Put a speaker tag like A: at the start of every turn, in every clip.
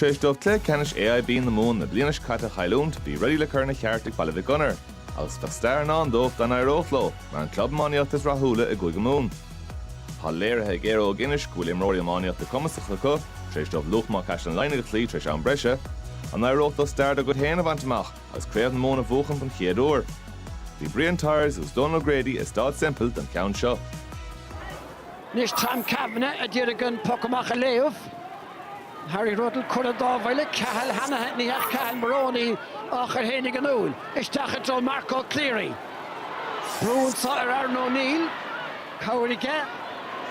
A: Tar éis dóibh cluiche ceannais AIB na Mumhan na bliana seo caite a chailliúint, bhí rudaí le cur ina cheart ag Baile Mhic Gonair. Agus bheadh stair i ndán dóibh dá n-éireodh leo mar an club iománaíochta is rathúla i gCúige Mumhan. Tá léirithe ag Éire Óg Inis go bhfuil imreoirí iománaíochta cumasacha acu, tar éis dóibh Luachma Caisleán Laighnigh a chloí tar éis am breise. An éireodh leo stair dá gcuid féin a bhaint amach agus Craobh na Mumhan a bhuachan don chéad uair? Bhí Brian Tyers agus Donal O'Grady i Staid Semple don cheann seo. Anois Tom Kavanagh a d'iarraidh an poc amach a léamh. Harry Ruddle cuireadh dá bhuille. Cahill Hanna, ní hea Cahill Moroney á chur fhéinig in iúl. Isteach i dtreo Marco Cleary. Brú anso ar Aaron O Neill. Cabhair aige.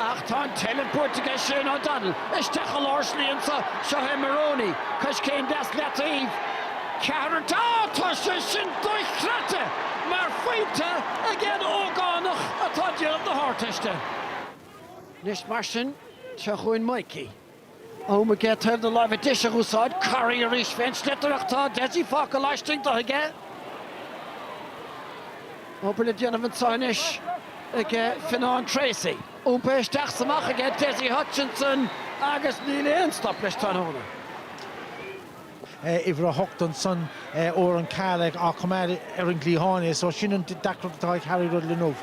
A: Ach tá an tseilbh buaite aige Shane O Donnell. Isteach i lár slí anso. Seo é Moroney. Coiscéim deas leataobh. Ceathrar Tá tá sé sin dochreidte mar phointe ag aon ógánach atá déanamh na hArdteiste. Anois mar sin, seo chugainn Mikey. Am aige taobh na láimhe deise a úsáid, corraí arís fén sliotar ach tá Dessie fágtha laistigh do aige. Obair le déanamh anso anois ag Fionán Treacy. Iompaithe isteach 's amach aige Dessie Hutchinson agus níl aon stop leis tráthnóna. uimhir a hocht ansan Oran Cahill á choimeád ar an gcliathán é so sin an deacracht atá ag Harry Ruddle inniu.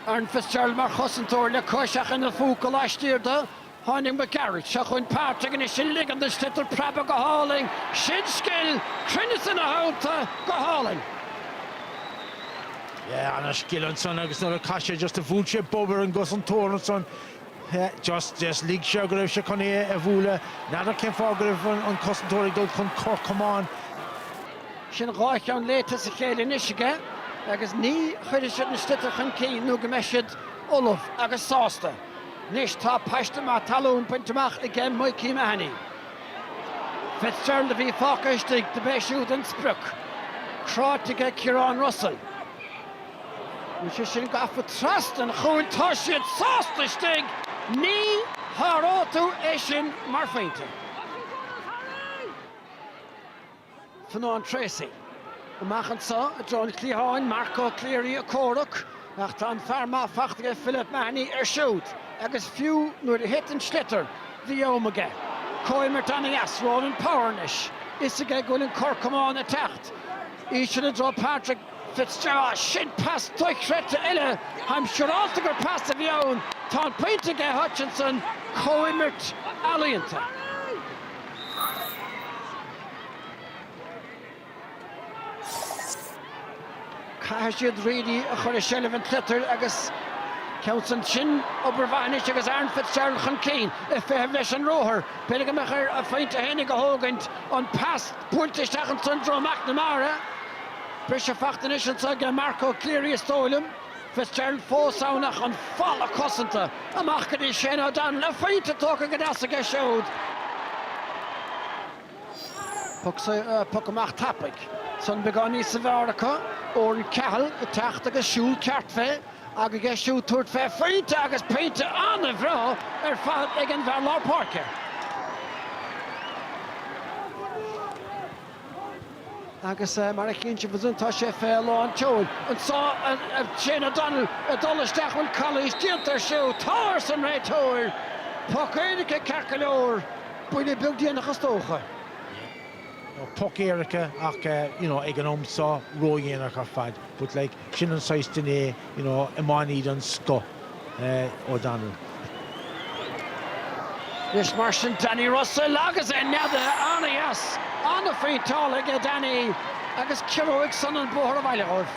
A: Aaron Fitzgerald mar chosantóir le cois ach ina phóca laistiar de, tháinig Mac Gearailt. Seo chugainn Pádraig anois ag ligean don sliotar preabadh go hálainn. Sin scil cruinneas ina theannta go hálainn. Yeah, ana-scil ansan agus nuair a chas sé just a bhuail sé bob ar an gcosantóir ansan. just, just lig sé go raibh sé chun é a bhualadh. N'fheadar cén fáth go raibh an cosantóir ag dul chun cor camáin. Sin dhá cheann léite as a chéile anois aige agus ní chuirfidh siad an sliotar chun cinn nó go mbeidh siad ullamh agus sásta. Anois tá paiste maith talún bainte amach aige Mikey Mahony. Fitzgerald a bhí fágtha istigh, do b'é siúd an sprioc. Cráite aige Ciarán Russell. Bhí sé sin gafa trasna an chúil, tá siad sásta istigh, ní sháróidh tú é sin mar phointe. Fionán Treacy. Amach anso i dtreo an chliatháin, Marco Cleary ag comhrac ach tá an fear maith fachta aige Philip Mahony air siúd agus fiú nuair a thit an sliotar bhí am aige comhimirt ana dheas Ronan Power anois a fhios aige go bhfuil an cor camáin ag teacht íseal i dtreo Patrick Fitzgerald, Sin pas dochreidte eile Táim siúráilte gur pas a bhí ann Tá an pointe aige Hutchinson, Comhimirt ealaíonta. Caithfidh siad really a chur i seilbh an tsliotair agus ceann san sin obair mhaith anois agus Aaron Fitzgerald chun cinn i bhfeitheamh leis an ruathar. B'fhéidir go mbeadh ar a phointe féinig a thógaint an pas. Buailte isteach ansan i dtreo McNamara. Briseadh faighte anois anso aige Marco Cleary is dóigh liom. Fitzgerald fós ann ach an falla cosanta amach go dtí Shane O'Donnell. A phointe tógtha go deas aige siúd. Puc amach tapaidh. San beagán níos fearr acu. Oran Cahill ag teacht agus siúl ceart fé. Aige siúd tabhairt fé phointe agus pointe an-bhreá ar fad ag an bhfear lár páirce. Agus mar a chíonn sibh ansan tá sé fé lán tseoil anso ar Shane O'Donnell ag dul isteach bhuel calaois déanta air siúd. Tá! arsa an réiteoir. Poc éirice ceart go leor. Buille beag déanach is dócha. Poc éirice ach you know ag an am seo ró-dhéanach ar fad but like. Sin an saghas duine é, you know, iománaí den scoth é O'Donnell. Anois mar sin Danny Russell agus é neadaithe an-dheas, an-phointeáil aige Danny agus giorróidh san an bóthar abhaile dhóibh.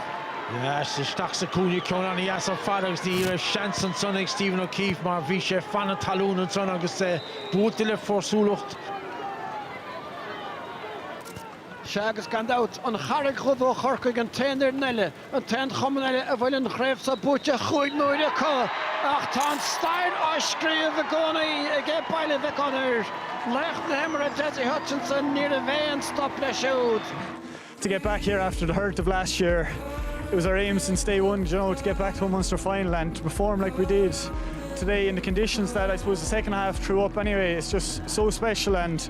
A: Yes, isteach sa chúinne ceann an-dheas ar fad agus ní raibh seans ansan ag Stephen O'Keefe mar bhí sé fan na talún ansan agus é buailte le fórsúlacht. Sea, agus gan dabht, an Charraig Dhubh ó Chorcaigh an t-aon fhoireann eile, an t-aon chumann eile a bhfuil an chraobh seo buaite chúig n-uaire acu. Ach tá an stair á scríobh i gcónaí ag Baile Mhic Gonair. Laoch na himeartha Dessie Hutchinson, ní raibh aon stop leis siúd. to get back here after the hurt of last year. It was our aim since day one, you know, to get back to a Munster final and to perform like we did today in the conditions that I suppose the second half threw up anyway. It's just so special and.